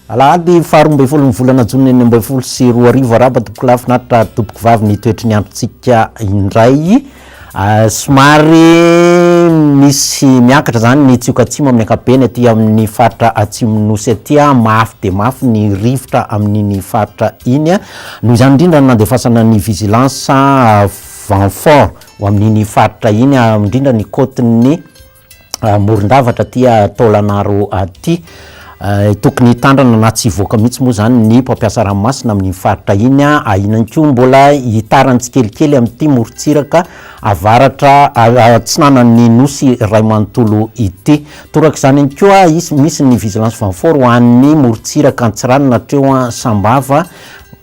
Alahady faharoa ambin'ny folo ny volana jona enina ambin'ny folo sy roa arivo araba tompoko lafinaritra tompoko vavy ny toetry ny androntsika indray Somary misy miakatra izany ny tsioka atsimo amin'ny ankapobeny aty amin'ny faritra atsimon'ny Nosy aty. Mafy dia mafy ny rivotra amin'iny faritra iny. Noho izany indrindra no nandefasana ny vigilance vent fort ho amin'iny faritra iny, indrindra ny côte-n'ny Morondavatra aty Taolagnaro aty. Tokony hitandrina na tsy hivoaka mihitsy moa izany ny mpampiasa ranomasina amin'iny faritra iny. Ahiana koa mbola hitarany tsikelikely amin'ity morontsiraka avaratra atsinanan'ny nosy iray manontolo ity. Toraka izany ihany koa, misy ny vigilance renfort ho an'ny morontsiraka Antsiranana hatreo Sambava.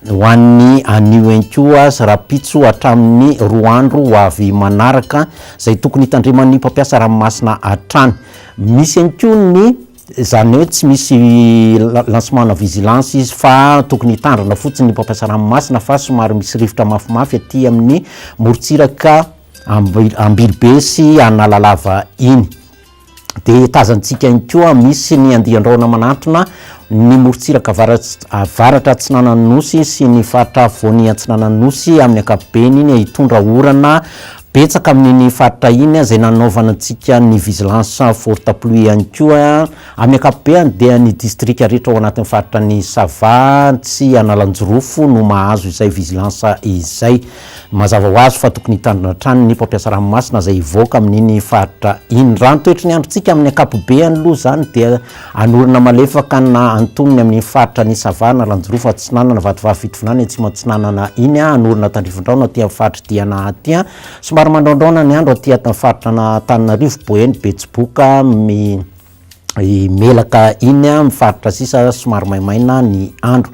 Ho an'ny anio ihany koa, rahampitso hatramin'ny roa andro ho avy manaraka, izay tokony hitandreman'ny mpampiasa ranomasina hatrany. Misy ihany koa ny, izany hoe tsy misy lancement-na vigilance izy fa tokony hitandrina fotsiny ny mpampiasa ranomasina fa somary misy rivotra mafimafy aty amin'ny morontsiraka Ambilobe sy Analalava iny. dia tazantsika ihany koa misy ny andian-drahona manantona ny morontsiraka avaratra atsinanan'ny nosy sy ny faritra afovoany atsinanan'ny nosy amin'ny ankapobeny iny hitondra orana betsaka amin'iny faritra iny izay nanaovana antsika ny vigilance forte pluie ihany koa amin'ny ankapobeny dia ny distrika rehetra ao anatin'ny faritra ny sava sy analanjirofo no mahazo izay vigilance izay Mazava ho azy fa tokony hitandrina hatrany ny mpampiasa ranomasina izay hivoaka amin'iny faritra iny. Raha ny toetry ny androntsika amin'ny ankapobeany aloha izany dia any orana malefaka na antonony amin'iny faritra any Sava, Analanjirofo atsinanana, Vatovavy Fitovinany atsimo atsinanana iny, any orana Tandrifindraona aty amin'ny faritra Diana aty, somary mandraondraona ny andro aty amin'ny faritra Antananarivo, Boeny, Betsiboka, melaka iny an, mifaritra sisa, somary maimaina ny andro.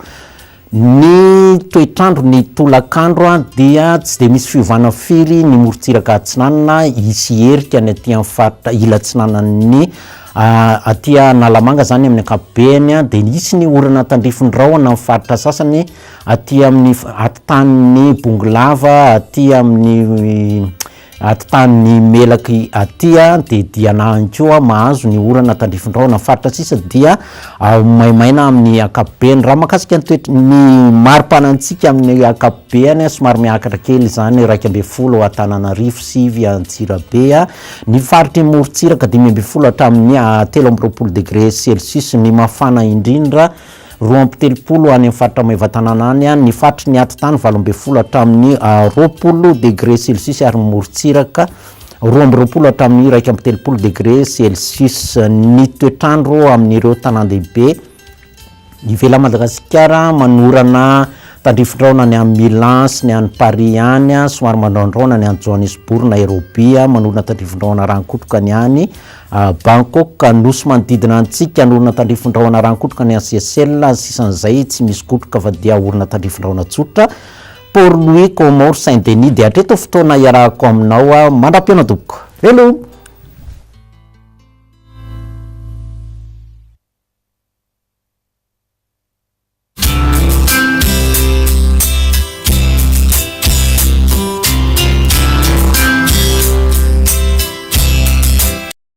Ny toetr'andro ny tolakandro an dia tsy dia misy fiovana firy ny morontsiraka atsinanana hisy herika ny aty amin'ny faritra ilatsinanan'ny aty Analamanga izany amin'ny ankapobeny an dia hisy ny orana tandrifin'ny rahona amin'ny faritra sasany aty amin'ny atitan'ny Bongolava aty amin'ny Aty tany ny melaky aty a dia diana any koa mahazo ny orana tandrifin-drahona faritra sisa dia ao maimaina amin'ny ankapobeny. Raha mahakasika ny toetry ny maripana antsika amin'ny ankapobeany a somary miakatra kely izany iraika ambin'ny folo Antananarivo sivy Antsirabe a ny faritry ny morontsiraka dimy ambin'ny folo hatramin'ny telo amby roapolo degré celsius ny mafana indrindra roa amby telopolo any amin'ny faritra Maevatanàna any an, ny faritry ny atitany valo ambin'ny folo hatramin'ny roapolo degré celsius ary ny morontsiraka roa amby roapolo hatramin'ny iraika amby telopolo degré celsius ny toetr'andro amin'ireo tanàn-dehibe ivelan'i Madagasikara manorana tandrifindraona ny any Milan sy ny any Paris any somary mandraondraona ny any Johannesburg, Nairobi manorana tandrifindraona raha nikotroka ny any A Bangkok, nosy manodidina antsika no olona tandrifin-drahona rankotroka ny Ancl, sisan'izay tsy misy kotroka fa dia olona tandrifin-drahona tsotra, Port Louis, Comores, Saint Denis, dia hatreto fotoana hiarahako aminao aho, mandra-pihaona tompoko! Veloma!